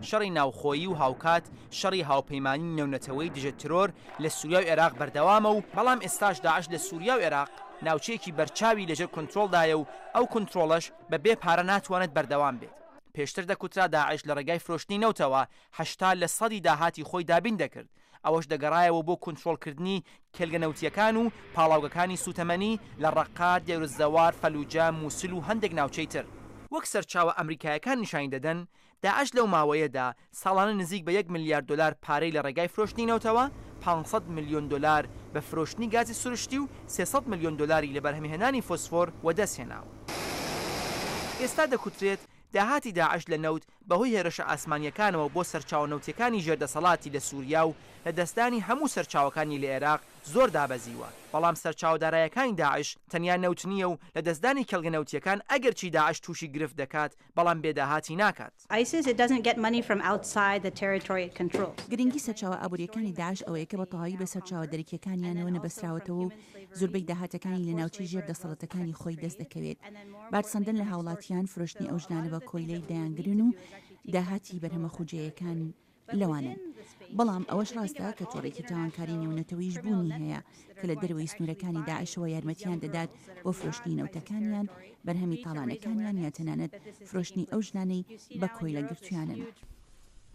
شەڕی ناوخۆیی و هاوکات شەڕی هاوپەیمانیی نێونەتەوەیی دژە ترۆر لە سووریا و ئێراق بەردەوامە و بەڵام ئێستاش داعش لە سووریا و ئێراق ناوچەیەکی بەرچاوی لەژێر کونترۆڵدایە و ئەو کونترۆڵەش بە بێ پارە ناتوانێت بەردەوام بێت. پێشتر دەکوترا داعش لە ڕێگای فرۆشتنی نەوتەوە هەشتا لە سەدی داهاتی خۆی دابین دەکرد، ئەوەش دەگەڕایەوە بۆ کونترۆڵکردنی کێلگە نەوتییەکان و پاڵاوگەکانی سووتەمەنی لە ڕەققە، دێرالزەوار، فەلووجە، مووسل و هەندێک ناوچەی تر. وەک سەرچاوە ئەمریکایەکان نیشانی دەدەن، داعش لەو ماوەیەدا ساڵانە نزیک بە یەک ملیار دۆلار پارەی لە ڕێگای فرۆشتنی نەوتەوە، پانج سەد ملیۆن دۆلار بە فرۆشتنی گازی سروشتی و سێ سەد ملیۆن دۆلاری لە بەرهەمهێنانی فۆسفۆر وەدەستهێناوە. ئێستا دەکوترێت داهاتی داعش لە نەوت بەهۆی هێرشە ئاسمانییەکانەوە بۆ سەرچاوە نەوتییەکانی ژێر دەسەڵاتی لە سووریا و لەدەستدانی هەموو سەرچاوەکانی لە ئێراق زۆر دابەزیوە، بەڵام سەرچاوە دارایەکانی داعش تەنیا نەوت نییە و لەدەستدانی کێڵگە نەوتییەکان ئەگەرچی داعش تووشی گرفت دەکات، بەڵام بێ داهاتی ناکات. گرنگی سەرچاوە ئابوورییەکانی داعش ئەوەیە کە بە تەواوی بە سەرچاوە دەرەکییەکانیانەوە نەبەستراوەتەوە و زوربەی داهاتەکانی لە ناوچەی ژێر دەسەڵەتەکانی خۆی دەست دەکەوێت. بار سەندن لە هاوڵاتیان فرۆشتنی ئەو ژنانە بە کۆیلەی دەیانگرن و داهاتی بەرهەمە خوجێیەکان لەوانن. بەڵام ئەوەش راستە کە تۆڕێکی تاوانکاری نێونەتەوەیش بوونی هەیە کە لە دەرەوەی سنورەکانی داعشەوە یارمەتیان دەدات بۆ فرۆشتنی نەوتەکانیان، بەرهەمی تاڵانەکانیان یا تەنانەت فرۆشتنی ئەو ژنانەی بە کۆیلە گرتویانن.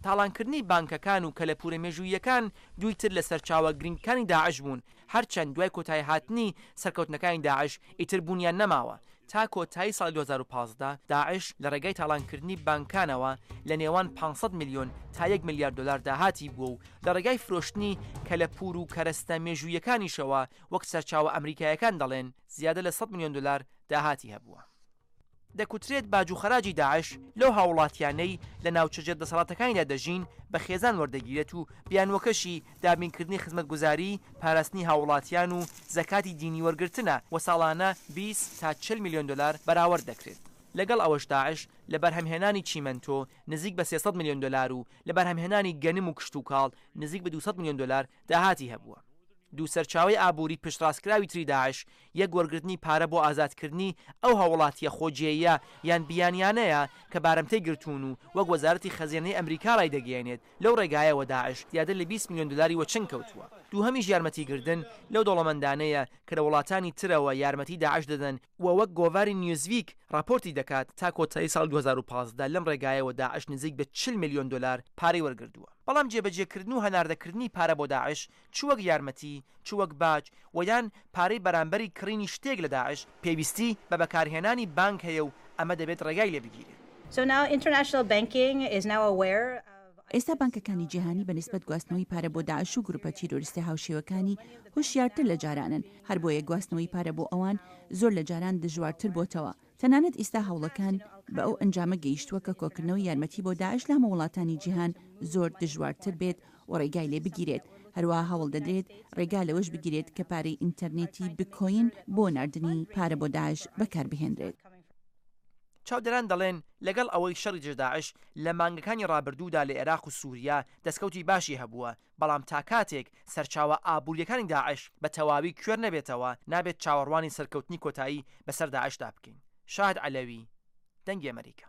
تاڵانکردنی بانکەکان و کەلەپورە مێژووییەکان دووی تر لە سەرچاوە گرنگکانی داعش بوون. هەرچەند دوای کۆتاییهاتنی سەرکەوتنەکانی داعش ئیتر بوونیان نەماوە، تا کۆتایی ساڵی دوو هەزار و پازدە داعش لە ڕێگای تاڵانکردنی بانکانەوە لە نێوان پانج سەد ملیۆن تا یەک ملیار دۆلار داهاتی بووە و لە ڕێگای فرۆشتنی کەلەپوور و کەرەستە مێژووییەکانیشەوە وەک سەرچاوە ئەمریکاییەکان دەڵێن زیادە لە سەد ملیۆن دۆلار داهاتی هەبووە. دەکوترێت باج و خەراجی داعش لەو هاووڵاتییانەی لە ناوچەجێ دەسەڵاتەکانیدا دەژین بە خێزان وەردەگیرێت و بیانووەکەشی دابینکردنی خزمەتگوزاریی پاراستنی هاووڵاتییان و زەکاتی دینی وەرگرتنە و ساڵانە بیست تا چل ملیۆن دۆلار بەراورد دەکرێت. لەگەڵ ئەوەش داعش لە بەرهەمهێنانی چیمەنتۆ نزیک بە سێ سەد ملیۆن دۆلار و لە بەرهەمهێنانی گەنم و کشتوکاڵ نزیک بە دوو سەد ملیۆن دۆلار داهاتی هەبووە. دوو سەرچاوەی ئابووری پشتڕاستکراوی تری داعش یەک وەرگرتنی پارە بۆ ئازادکردنی ئەو هاووڵاتییە خۆجێییە یان بیانیانەیە کە بارمتەی گرتوون و وەک وەزارەتی خەزێنەی ئەمریکا ڕایدەگەیەنێت لەو ڕێگایەوە داعش زیاتر لە بیست ملیۆن دۆلاری وەچنگ کەوتووە دووهەمیش یارمەتیگردن لەو دەوڵەمەندانەیە کە لە وڵاتانی ترەوە یارمەتی داعش دەدەن و وەک گۆڤاری نیوزویک ڕاپۆرتی دەکات تا کۆتایی ساڵی دوو هەزار و پازدە لەم ڕێگایەوە داعش نزیک بە چل ملیۆن دۆلار پارەی وەرگردووە بەڵام جێبەجێکردن و هەناردەکردنی پارە بۆ داعش چ وەک یارمەتی، چ وەک باج و یان پارەی بەرامبەری کڕینی شتێک لە داعش، پێویستی بە بەکارهێنانی بانک هەیە و ئەمە دەبێت ڕێگای لێ بگیرێ. ئێستا بانکەکانی جیهانی بە نیسبەت گواستنەوەی پارە بۆ داعش و گروپە تیرۆریستە هاوشێوەکانی هۆشیارتر لە جارانن، هەربۆیە گواستنەوەی پارە بۆ ئەوان زۆر لە جاران دژوارتر بۆتەوە. تەنانەت ئیستا هەوڵەکان بە ئەو ئەنجامە گەیشتووە کە کۆکردنەوەی یارمەتی بۆ داعش لە هەموو وڵاتانی جیهان زۆر دژوارتر بێت و ڕێگای لێ بگیرێت، هەروەها هەوڵ دەدرێت ڕێگا لەوەش بگیرێت کە پارەی ئینتەرنێتی بکۆین بۆ ناردنی پارە بۆ داعش بەکار بهێنرێت. چاودێران دەڵێن لەگەڵ ئەوەی شەڕی دژە داعش لە مانگەکانی ڕابردوودا لە ئێراق و سوریا دەستکەوتی باشی هەبووە، بەڵام تا کاتێک سەرچاوە ئابوورییەکانی داعش بە تەواوی کوێر نەبێتەوە، نابێت چاوەڕوانی سەرکەوتنی کۆتایی بەسەر داعشدا بکەین. شاهد عەلەوی، دەنگی ئەمەریکا.